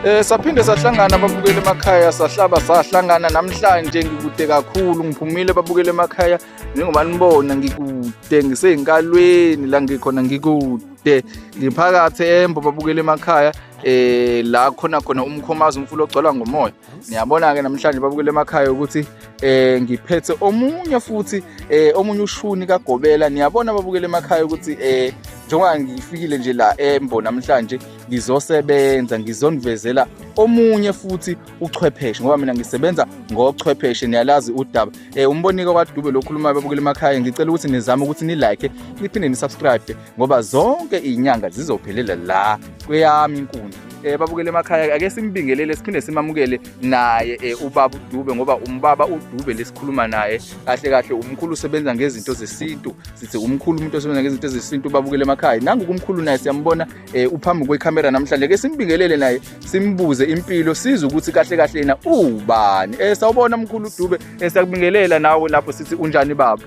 Eh saphinde sahlangana babukele emakhaya sahlaba sahlangana namhlanje ngikude kakhulu ngiphumile babukele emakhaya njengoba nibona ngikude ngiseyinkalweni la ngikhona ngikude ngiphakathi embo babukele emakhaya eh la khona khona umkhomazi umfula ogcwala ngomoya niyabona-ke namhlanje babukele emakhaya ukuthi eh ngiphethe omunye futhi eh omunye ushuni kagobela niyabona babukele emakhaya ukuthi eh njengoba ngifikile nje la embo namhlanje ngizosebenza ngizonivezela omunye futhi uchwepheshe ngoba mina ngisebenza ngochwepheshe niyalazi udaba eh umbonike kwadube lokhuluma babukele emakhaya ngicela ukuthi nizame ukuthi ni like niphinde ni subscribe ngoba zonke iy'nyanga zizophelela la kweyami inkundla eh babukele emakhaya ake simbingelele siphinde simamukele naye eh ubaba uDube ngoba umbaba uDube lesikhuluma naye kahle kahle umkhulu usebenza ngezinto zesintu sithi umkhulu umuntu osebenza ngezinto zesintu babukele emakhaya nangu kumkhulu naye siyambona eh uphambi kwecamera namhlanje ke simbingelele naye simbuze impilo size ukuthi kahle kahle yena ubani eh sawubona mkhulu uDube esakubingelela eh, nawe lapho sithi unjani baba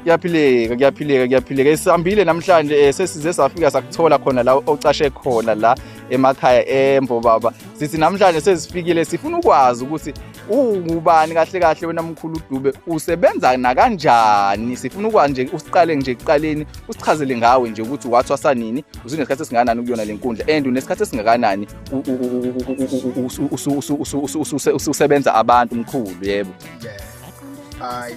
kuyaphileka kuyaphileka kuyaphileka sihambile namhlanje eh, sesize safika sakuthola khona la ocashe khona la emakhaya embo baba sithi namhlanje sezifikile sifuna ukwazi ukuthi ungubani kahle kahle wena mkhulu udube usebenza nakanjani sifuna ukwazi nje usiqale nje kuqaleni usichazele ngawe nje ukuthi wathwasa nini usunesikhathi esingakanani ukuyona le nkundla and unesikhathi esingakanani ususebenza abantu mkhulu yebo hayi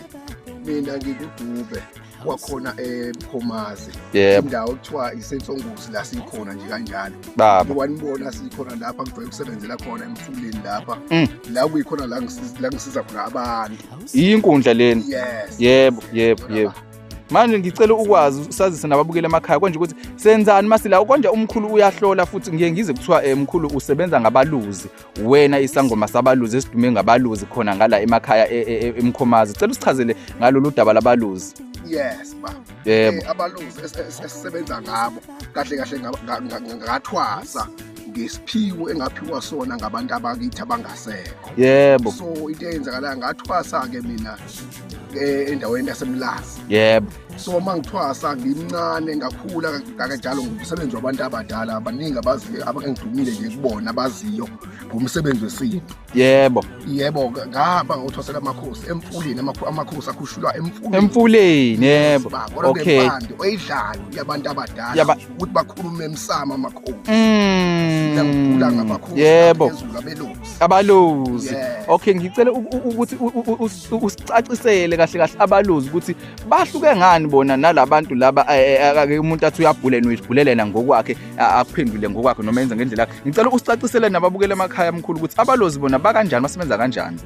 mina ngikudube kwakhona eMkhomazi Yebo. indawo kuthiwa isensongozi la sikhona nje kanjalo Baba. wanibona sikhona lapha ngijwayele ukusebenzela khona emfuleni lapha Mm. la kuyikhona la ngisiza- la ngisiza khona abantu Iyinkundla leni. yes Yebo, yebo, yebo. Manje ngicela ukwazi usazise nababukeli emakhaya konje ukuthi senzani masila konje umkhulu uyahlola futhi ngiye ngize kuthiwa eh, mkhulu usebenza ngabaluzi wena isangoma sabaluzi esidume ngabaluzi khona ngala emakhaya e, e, e, emkhomazi cela usichazele ngalolu daba labaluzi yes ba yebo eh, abaluzi esisebenza ngabo kahle kahle ngathwasa ngesiphiwo engaphiwa sona ngabantu abakithi abangasekho yebo so into eyenzakalayo ngathwasa-ke mina eh, endaweni yasemlazi yebo so uma ngithwasa ngimncane ngakhula kakanjalo ngomsebenzi wabantu abadala abaningi abaziyo abangidumile nje kubona abaziyo ngomsebenzi wesintu yebo yebo ngahamba ngothwasela amakhosi emfuleni amakhosi akhushulwa emfuleni emfuleni yebo okay oyidlayo yabantu abadala ukuthi bakhulume emsamo amakhosi ngiyangigula mm. ngamakhosi yebo abelozi abaluzi okay ngicela ukuthi usicacisele kahle kahle abaluzi ukuthi bahluke ngani bona nalabantu laba eh, eh, ake umuntu athi uyabhulena uyibhulelela ngokwakhe akuphendule ngokwakhe noma yenza ngendlela yakhe ngicela usicacisele nababukela emakhaya amkhulu ukuthi abalozi bona bakanjani basebenza kanjani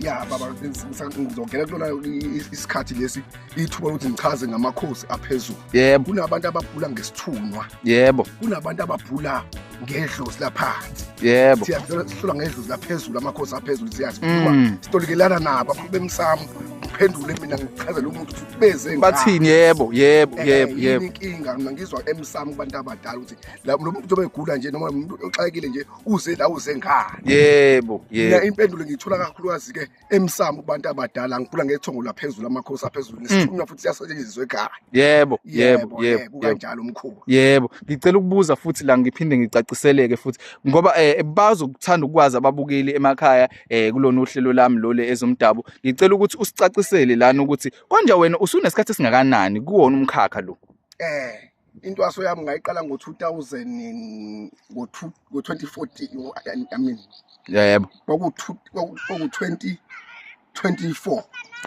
ya baba ngizongena kulona isikhathi lesi ithuba lokuthi ngichaze ngamakhosi aphezulu yebo kunabantu ababhula ngesithunwa yebo kunabantu ababhula ngedlozi laphansi yebo sihlula ngedlozi laphezulu amakhosi aphezulu siyazi mm. sitolikelana nabo akhulube emsamo ngiphendule mina ngichazele umuntu ukuthi beze bathini yebo yebo eh, yebo yebo inkinga mina ngizwa emsamo kubantu abadala ukuthi lo muntu obegula nje noma umuntu oxakekile nje uze la uze ngani yebo yebo mina impendulo ngiyithola kakhulukazi ke emsamo kubantu abadala ngikula ngethongo laphezulu amakhosi aphezulu mm. nesithunywa futhi siyasetshenziswa ekhaya yebo yebo yebo kanjalo umkhuba yebo ngicela ukubuza futhi la ngiphinde ngicaciseleke futhi ngoba eh bazo kuthanda ukwazi ababukeli emakhaya eh kulona uhlelo lami lole ezomdabu ngicela ukuthi usicacisele lana ukuthi konje wena usunesikhathi singakanani kuwona umkhakha lo eh intwaso yami ngayiqala ngo-2000 ngo-2014 i mean yebo kwaku-20 24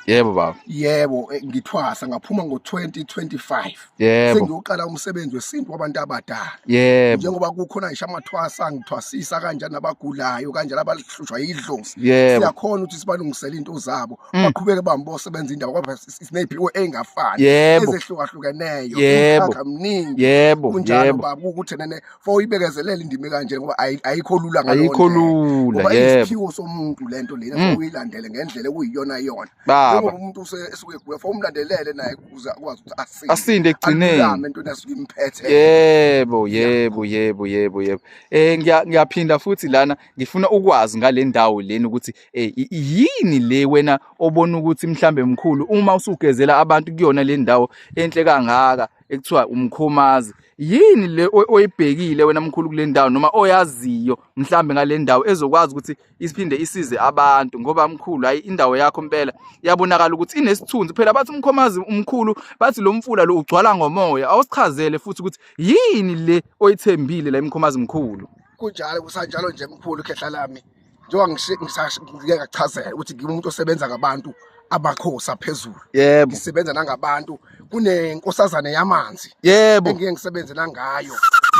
yebo baba yebo eh, ngithwasa ngaphuma ngo-2025 yebo sengiyoqala umsebenzi wesintu wabantu abadala yebo njengoba kukhona ngisho amathwasa ngithwasisa kanjani abagulayo kanjani abahlushwa yidlozi siyakhona ukuthi sibalungisele into zabo mm. baqhubeke bambosebenza indawo kwaba neziphiwo ey'ngafani Yebo. ezehlukahlukeneyo Yebo. umkhakha mningi yebo kunjalo yebo baba ukuthi nene for uyibekezelele indimi kanje ngoba ayi- ayikho lula ngaleyo ayikho ndlela. lula ngoba yebo isiphiwo somuntu lento lena Mm. for uyilandele ngendlela okuyiyona yona baba njengoba umuntu use- esuke egula for umlandelele naye ukuze akwazi ukuthi asinde asinde ekugcineni alulame entweni asuke imphethe yebo yebo yebo yebo yebo eh ngiya- ngiyaphinda futhi lana ngifuna ukwazi ngale ndawo leni ukuthi Eh, yini le wena obona ukuthi mhlambe mkhulu uma usugezela abantu kuyona le ndawo enhle kangaka ekuthiwa umkhomazi yini le oyibhekile wena mkhulu kule ndawo noma oyaziyo mhlambe ngale ndawo ezokwazi ukuthi isiphinde isize abantu ngoba mkhulu hayi indawo yakho impela yabonakala ukuthi inesithunzi phela bathi umkhomazi umkhulu bathi lo mfula lo ugcwala ngomoya awusichazele futhi ukuthi yini le oyithembile la imkhomazi mkhulu kunjalo kusanjalo nje mkhulu khehla lami njengoba ngike ngachazela ukuthi ngiwumuntu osebenza ngabantu amakhosi aphezulu yebo ngisebenza nangabantu kunenkosazane yamanzi yebo engike ngisebenzela ngayo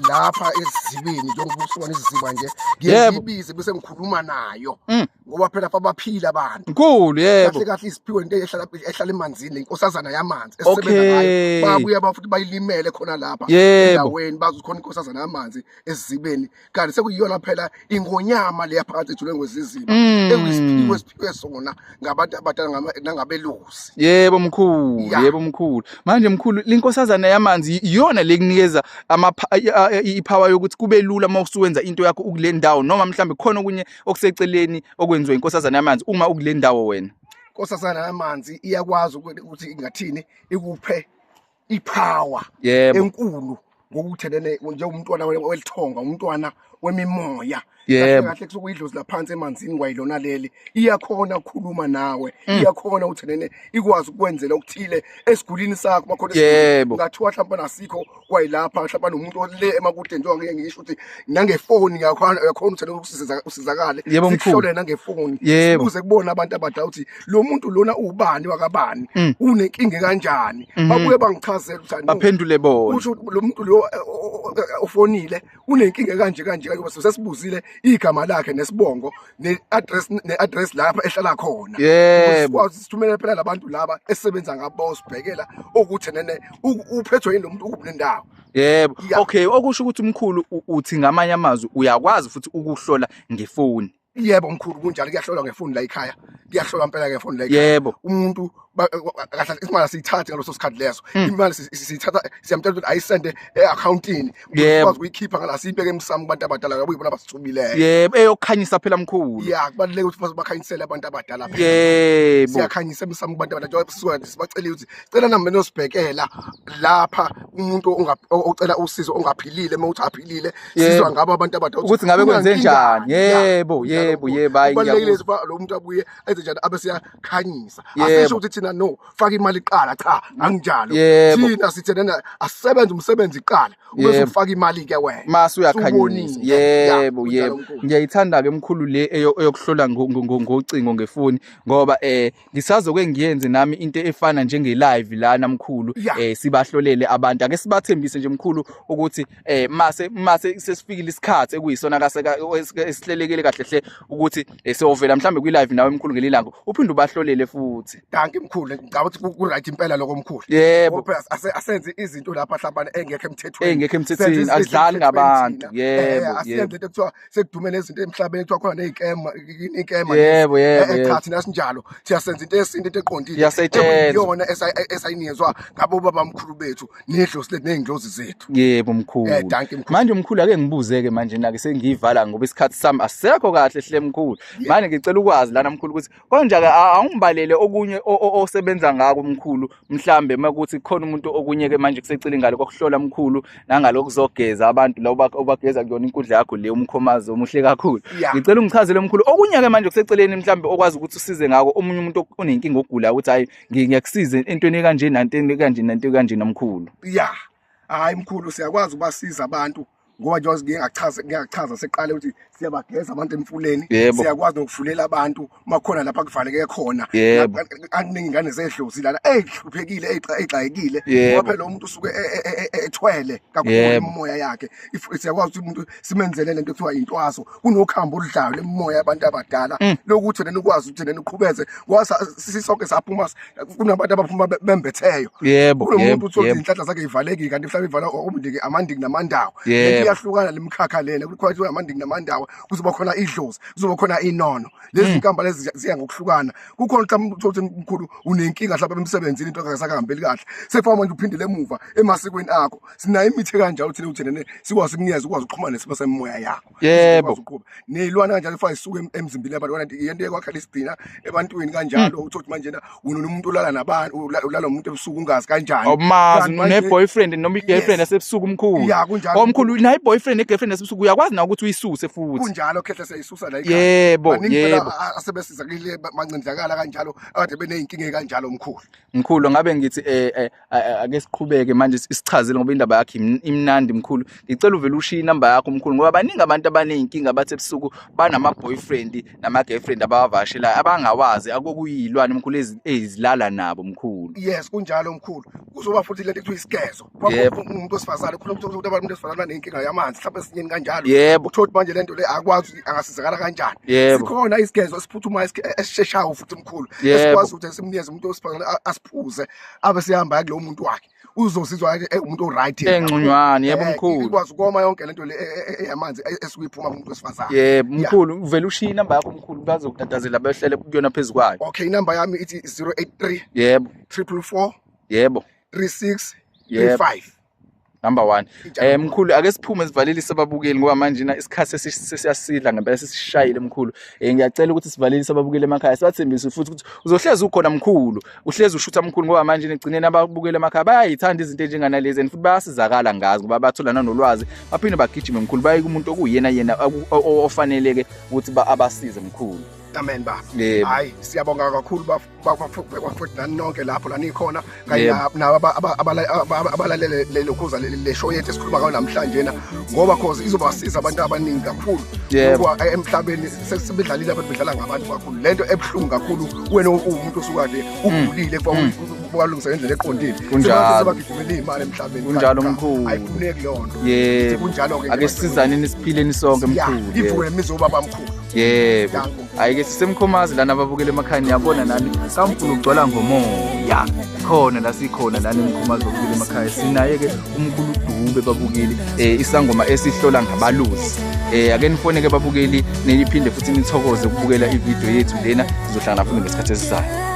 lapha ezibini njengoba usibona iziziba nje ngiyibize bese ngikhuluma nayo mm. ngoba phela fa baphila abantu mkhulu yebo kahle kahle isiphiwe into ehlala ehlala emanzini lenkosazana yamanzi esebenza ngayo babuya bafuthi bayilimele khona lapha endaweni bazokhona inkosazana yamanzi ezibeni kanti sekuyiyona phela ingonyama leya phakathi ejule ngozizima mm. ekuyisiphiwo esiphiwe sona ngabantu abadala nangabelusi yebo mkhulu yeah. yebo mkhulu manje mkhulu linkosazana yamanzi iyona lekunikeza ama ipower yokuthi kube lula uma usuwenza into yakho ukule ndawo noma mhlambe khona okunye okuseceleni okwenziwa inkosazana yamanzi uma ukule ndawo wena inkosazana yamanzi iyakwazi ukuthi ingathini ikuphe ipower yebo enkulu ngokuthelele njengomntwana welithonga umntwana wemimoya yebo kahle kusukuyidlozi laphansi emanzini kwayilona leli iyakhona ukukhuluma nawe mm. iyakhona uthenene ikwazi ukwenzela okuthile esigulini sakho bakhona yebo ngathiwa mhlawumbe nasikho kwayilapha mhlawumbe nomuntu ole emakude njengoba ngeke ngisho ukuthi nangefoni yakhona yakhona uthenene ukusizakala yebo mkhulu nange foni sibuze kubona abantu abadala ukuthi lo muntu lona ubani wakabani mm. unenkinga kanjani mm -hmm. babuye bangichazela ukuthi baphendule bona usho lo muntu lo eh, eh, eh, ofonile unenkinga kanje kanje kanje bese sesibuzile igama lakhe nesibongo ne address ne address lapha ehlala khona yebo sikwazi sithumele phela labantu laba esebenza ngabo sibhekela ukuthi nene uphethwe yini lo muntu ukuphi nendawo yebo okay okusho ukuthi umkhulu uthi ngamanye amazwi uyakwazi futhi ukuhlola ngefoni yebo mkhulu kunjalo kuyahlolwa ngefoni la ekhaya kuyahlolwa impela ngefoni la ekhaya yebo umuntu kahle imali siyithathe ngaloso sikhathi leso hmm. imali siyithatha siyamtshela ukuthi ayisende e-accountini ukwazi ukuyikhipha ngala siyibeke emsamo kubantu abadala ngoba yibona abasithumileyo yebo eyokhanyisa phela mkhulu ya kubaluleke ukuthi bakhanyisele abantu abadala yebo siyakhanyisa emsamo kubantu abadala njengoba sisuka sibacele ukuthi cela nami benosibhekela lapha umuntu ocela usizo ongaphilile uma uthi aphilile sizwa ngabo abantu abadala ukuthi ngabe kwenze njani yebo yebo yebo hayi kubalekile ukuba lo muntu abuye enze njani abe siyakhanyisa asisho ukuthi thina no faka imali iqala cha anginjalo thina sithe nana asebenze umsebenzi iqala ubese ufaka imali ke wena mase uyakhanyisa yebo yebo ngiyayithanda ke mkhulu le eyokuhlola ngocingo ngefoni ngoba eh ngisazoke ngiyenze nami into efana njenge live lana mkhulu Yeah. eh sibahlolele abantu ake sibathembise nje mkhulu ukuthi eh mase mase sesifikile isikhathi ekuyisona kaseka esihlelekele kahle hle ukuthi eh, siyovela mhlambe kwi live nawe mkhulu ngelilanga uphinde ubahlolele futhi danki mkhulu ngicabanga ukuthi ku- ku-right impela lokho mkhulu yebo Ngoba phela ase- asenze izinto lapha hlambane engekho emthethweni engekho Senze emthethweni izinto adlali ezingekho ngabantu emthethweni thina. Eh, yebo asiyenze yebo into ekuthiwa sekudume nezinto emhlabeni kuthiwa khona ney'kema ikema yebo yebo eh, eh, cha thina sinjalo siyasenza into yesintu into eqondile iyona esayinikezwa ngabo babamkhulu bethu nedlozi lethu ney'ndlozi zethu yebo mkhulu eh, manje mkhulu ake ngibuze-ke manje nake sengiyivala ngoba isikhathi sami asisekho kahle hle mkhulu manje ngicela ukwazi lana mkhulu ukuthi konjake awungibalele okunye osebenza ngako mkhulu mhlambe makuthi khona umuntu okunye ke manje kusecile ngalo kokuhlola mkhulu nangalo kuzogeza abantu la ubageza kuyona inkundla yakho le umkhomazi omuhle kakhulu ngicela ungichazele mkhulu okunye ke manje kuseceleni mhlambe okwazi ukuthi usize ngako omunye umuntu onenkinga ogula ukuthi hayi ngiyakusiza entweni ekanje nanteni ekanje nanteni ekanje nomkhulu yeah hayi mkhulu siyakwazi ubasiza abantu ngoba njengoba ngike ngachaza ngike ngachaza seqale ukuthi siyabageza abantu emfuleni Yebo. siyakwazi nokuvulela abantu uma khona lapha kuvaleke khona Yebo. Lapha- aningi ingane zedlozi lana eyihluphekile eyigxa- eyigxayekile Yebo. ngoba phela umuntu usuke e- e- e- e- ethwele kakhulu Yebo. imimoya yakhe If- siyakwazi ukuthi umuntu simenzele lento ekuthiwa yintwaso kunokhambo oludlayo lemimoya yabantu abadala lokuthi nina ukwazi ukuthi nina uqhubeze ngoba sa- sisonke saphuma kunabantu abaphuma be- bembetheyo yebo kunomuntu yebo uthole yebo izinhlanhla zakhe ivalekile kanti mhlawumbe ivala umndiki amandiki namandawo Yebo. lento iyahlukana le mkhakha lena kukhona ukuthi amandiki namandawo kuzoba khona idlozi kuzoba khona inono lezi Mm. zinkamba lezi ziya- ziya ngokuhlukana kukhona mhlawumbe uthole ukuthi mkhulu unenkinga mhlawumbe emsebenzini into akasakahambeli kahle sekufanele manje uphindele emuva emasikweni akho sinayo imithi ekanjalo thina uthina ne sikwazi ukunikeza ukwazi ukuxhumana nesimo semimoya yakho yebo nezilwane kanjalo kufanele zisuke emzimbeni yabantu kanti yento ekwakhala isigcina ebantwini kanjalo hmm. uthothi manje na wena unomuntu olala nabantu ulala umuntu ebusuku ungazi kanjani awumazi oh, une boyfriend noma i girlfriend yasebusuku omkhulu ya kunjalo omkhulu oh, nayi boyfriend ne girlfriend yasebusuku uyakwazi na ukuthi uyisuse futhi kunjalo khehla seyisusa la ikhaya yebo yebo asebesiza kile mancindlakala kanjalo ade beneyinkinga kanjalo omkhulu mkhulu ngabe ngithi eh, eh ake siqhubeke manje isichazile ngoba indaba yakhe imnandi mkhulu ngicela uvele ushiye inamba yakho mkhulu ngoba baningi abantu abaneyinkinga abathi ebusuku banama boyfriend nama girlfriend abawavashelayo abangawazi akokuyilwane mkhulu ezilala nabo mkhulu yes kunjalo mkhulu kuzoba futhi lento ekuthiwa isigezo umuntu osifazane khona ukuthi abantu umuntu osifazane nenkinga yamanzi mhlawumbe esinyeni kanjalo yebo uthola ukuthi manje lento le akwazi angasizakala kanjani sikhona isigezo esiphuthumayo esisheshayo futhi mkhulu esikwazi ukuthi simnikeze umuntu osifazane asiphuze abe sehamba ya kulowo muntu wakhe uzozizwa ke engumuntu oright engconywana yebo eh, mkhulu ikwazi ukoma yonke lento le eh, eh, eyamanzi esikuyiphuma kumuntu wesifazane yebo mkhulu uvela ushiya inamba yakho mkhulu bazokutatazela behlele kuyona phezukwayo okay inamba yami ithi 083 yebo 344 yebo 36 35 number one eh mkhulu ake siphume sivalelise ababukeli ngoba manje na isikhathi sesiyasidla ngempela sesishayile mkhulu eh ngiyacela ukuthi sivalelise ababukeli emakhaya sibathembise futhi ukuthi uzohlezi ukhona mkhulu uhlezi ushutha mkhulu ngoba manje nigcineni ababukeli emakhaya bayayithanda izinto enjenganalezi and futhi bayasizakala ngazi ngoba bathola nanolwazi baphinde bagijime mkhulu baye kumuntu okuyena yena ofaneleke ukuthi abasize mkhulu amen baba hayi siyabonga kakhulu bafo kwakubhekwa futhi nani nonke lapho la nikhona kanye Yebo. na- nabo aba- aba- abala- aba- abalalele lelo khuza le- le show yethu esikhuluma ngayo namhlanje na ngoba cause izobasiza abantu abaningi kakhulu Yebo. ngoba eh, emhlabeni sesibedlalile abantu bedlala ngabantu kakhulu lento ebuhlungu kakhulu wena uwumuntu osukade ugulile kwalungisa ngendlela eqondile Mm. Kunjalo. sebagijimela iy'mali emhlabeni Kunjalo, Kanti cha, mkhulu. ayifuneki leyo nto yebo kunjalo-ke ake sisizaneni siphileni sonke mkhulu ivuke yebo. emizoba bamkhulu yebo Danko. hayi ke sisemkhomazi lana ababukele emakhaya niyabona nani kamfuna ukugcwala ngomoya khona la sikhona lana emkhomazi babukele emakhaya sinaye ke umkhulu dube babukeli um isangoma esihlola ngabaluzi um ake nifone ke babukeli niphinde futhi nithokoze ukubukela ividiyo yethu lena sizohlangana futhi ngesikhathi esizayo